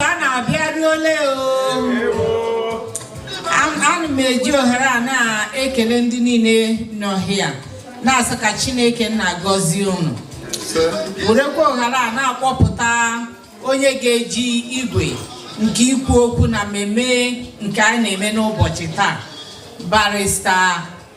a na-abịaruole ana m eji ohere a na-ekele ndị niile nọ here na-asị ka Chineke na-agọzi unu werekwa ohere a na-akpọpụta onye ga-eji igwe nke ikwu okwu na mmemme nke anyị na-eme n'ụbọchị taa barista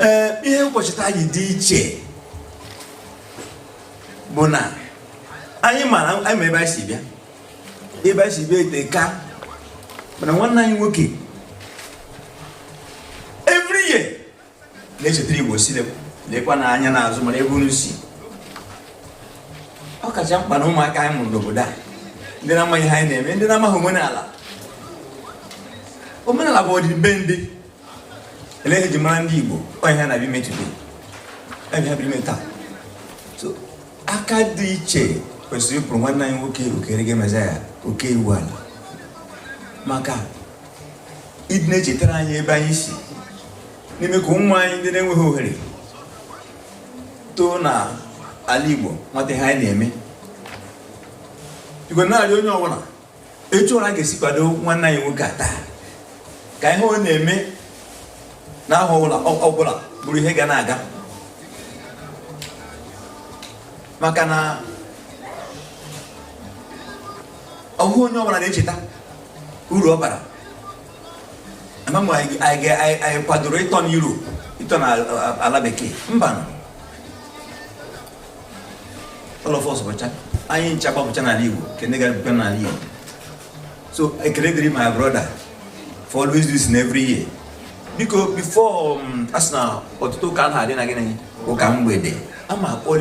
ee ihe ncheta a ji dị iche bụ na anyị mara anyị ma ebe anyị si bịa ebe anyị si bịa eteka mana nwanne anyị nwoke every year na-echetara igbo sị lekwanụ anya n'azụ mara ebe unu si ọ kacha mkpa na ụmụaka anyị mụrụ n'obodo a ndị na-amaghị ihe anyị na-eme ndị na-amaghị omenala omenala bụ ọdịbendị ihe e ji mara ndị Igbo ọ bụ ihe a na-abịa ime today bụ ihe a bịara ime taa so aka dị iche kwesịrị ịkụrụ nwanne anyị nwoke Okereke mezaya oke iwu ala maka ịdị na-echetara anyị ebe anyị si na ime ka ụmụ anyị ndị na-enweghị ohere too na ala Igbo mata ihe anyị na-eme wee na-arịọ onye ọbụla etu ọbụla ọ ga-esi kwado nwanne anyị nwoke a taa ka ihe ọ na-eme n'ahọ ọbụla bụrụ ihe ga na-aga maka na ọ bụghị onye ọbụla na-echeta uru ọ bara ama m anyị kwadoro ịtọ na Europe ịtọ na ala bekee mba all of us bụcha anyị ncha gbapụcha n'ala Igbo nke ndị gara bụcha n'ala Igbo so ekele dịrị my brother for always do this thing every year biko before um, a sị na ọtụtụ ụka anaghị adị na gịnị ụka mgbede ama akpọli